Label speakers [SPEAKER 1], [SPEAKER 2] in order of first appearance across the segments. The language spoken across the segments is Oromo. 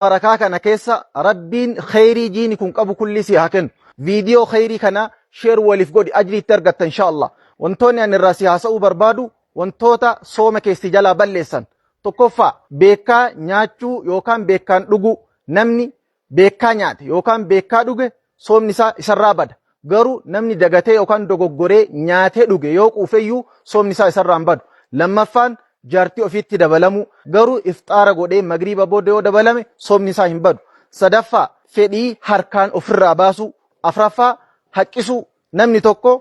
[SPEAKER 1] barakaa kana keessa rabbiin kheyrii jiini kun qabu kullii si haa kennu viidiyoo kheyrii kana sheer waliif godhi ajrii itti argatta insha allah wantoonni ani irraa si haasa'uu barbaadu wantoota sooma keessi jalaa balleessan tokkoffaa beekaa nyaachuu yookaan beekaan dhuguu namni beekaa nyaate yookaan beekaa dhuge soomni isaa isarraa bada. Garuu namni dagatee yookaan dogoggoree nyaatee dhuge yoo quufeyyuu soomni isaa isarraa hin badu. Lammaffaan jaartii ofiitti dabalamuu. Garuu ifxaara godhee magriiba booda yoo dabalame soomni isaa hin badu. Sadaffaa fedhii harkaan ofirraa baasuu. Afraffaa haqqisuu. Namni tokko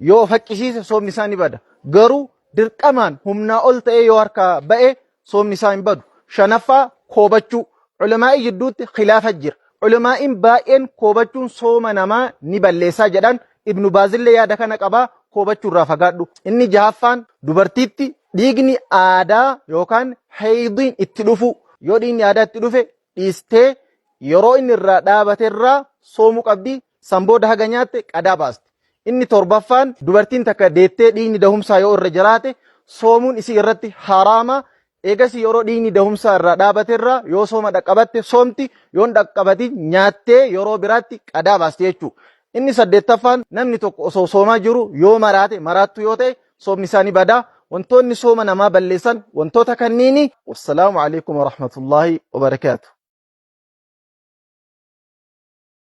[SPEAKER 1] yoo of haqqisiise soomni isaa ni bada. Garuu dirqamaan humnaa ol ta'ee yoo harkaa ba'e soomni isaa hin badu. Shanaffaa koobachuu. Ulamaa'ii jidduutti khilaafa jira. Ulamaa'iin baay'een koobachuun sooma namaa ni balleessaa jedhan. Ibnu Baazillee yaada kana qabaa koobachuu irraa fagaadhu. Inni jahaffaan dubartiitti dhiigni aadaa yookaan heeydiin itti dhufuu. Yoo dhiigni aadaa itti dhufe dhiistee yeroo inni irraa dhaabate irraa soomuu qabdi. San booda haga nyaatte qadaa baasti. Inni torbaffaan dubartiin takka deettee dhiigni dahumsaa yoo irra jiraate soomuun isii irratti haraama. Eegasii yeroo dhiigni dahumsaa irraa dhaabate irraa yoo sooma dhaqqabatte soomti yoon dhaqqabatin nyaattee yeroo biraatti qadaa baasti jechuu. Inni saddeettaffaan namni tokko osoo soomaa jiru yoo maraate maraattu yoo ta'e soomni isaa ni bada. Wantoonni sooma namaa balleessan wantoota kanniini. Wassalaamu alaikum warahmatullaahi wabarakaatu.